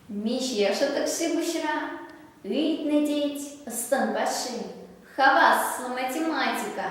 Миҫешӗ такси пуҫра? Ыйтнӑ тет ӑстӑнпаҫҫи. Хаваслӑ математика.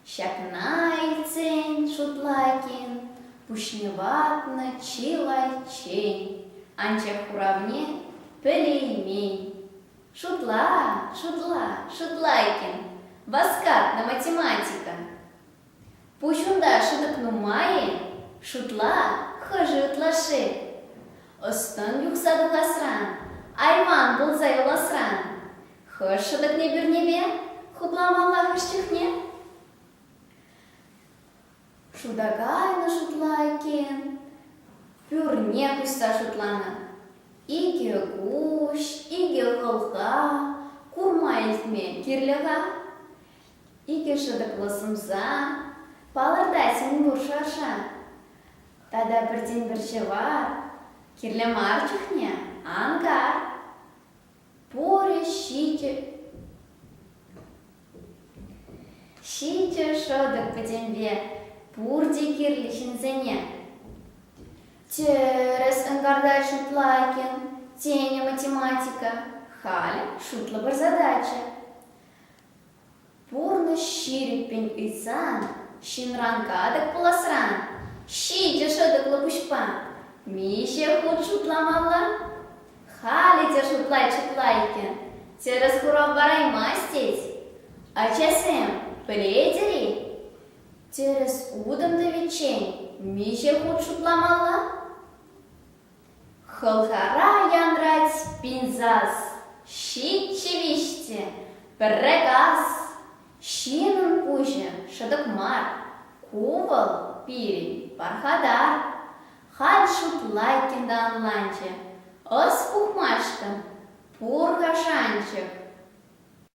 Ҫакна илтсен Шутлакин пуҫне ватнӑ чылайччен, анчах хуравне пӗлеймен. Шутла, шутла, шутла иккен. Васкат на математика. Пуҫунта шӑтӑк нумай-и? Шутла, хӑшӗ ытлашши? Ӑс-тӑн юхса тухасран, айман пулса юласран. Хӑш шӑтӑкне пӳрнепе хупламаллах ӗҫ чухне? Шута кайнӑ шутла иккен. Пӳрне пуҫса шутланӑ. Икӗ куҫ, икӗ хӑлха, курма илтмен кирлӗ-ха. Икӗ шӑтӑклӑ сӑмса, палӑртать мӗнпур шӑршӑ. Тата пӗртен-пӗр ҫӑвар. Кирлӗ мар чухне ангар. Пурӗ ҫичӗ... Ҫитӗ шӑтӑк пӗтӗмпе пурте кирлӗ ҫынсене. Тӗрӗс ӑнкартать Шутлайкин, тенӗ математика. Халӗ шутлӑпӑр задача. Пурнӑҫ ҫирӗппӗн ыйтсан, ҫынран катӑк пуласран, ҫитӗ шӑтӑклӑ пуҫпа миҫе хут шутламалла? Халӗ те шутлай-чутлай иккен, тӗрӗс хурав параймасть тет. Ачасем, пӗлетӗр-и? Тӗрӗс утӑм тӑвиччен миҫе хут шутламалла? Хӑлхара янрать пинсас, ҫиччӗ-виҫ те, пӗрре газ. Ҫыннӑн пуҫӗ шӑтӑк мар, ку вӑл пирӗн пархатар. Халь шутлайкин та ӑнланчӗ. Ӑс пухмашкӑн пур-ха шанчӑк.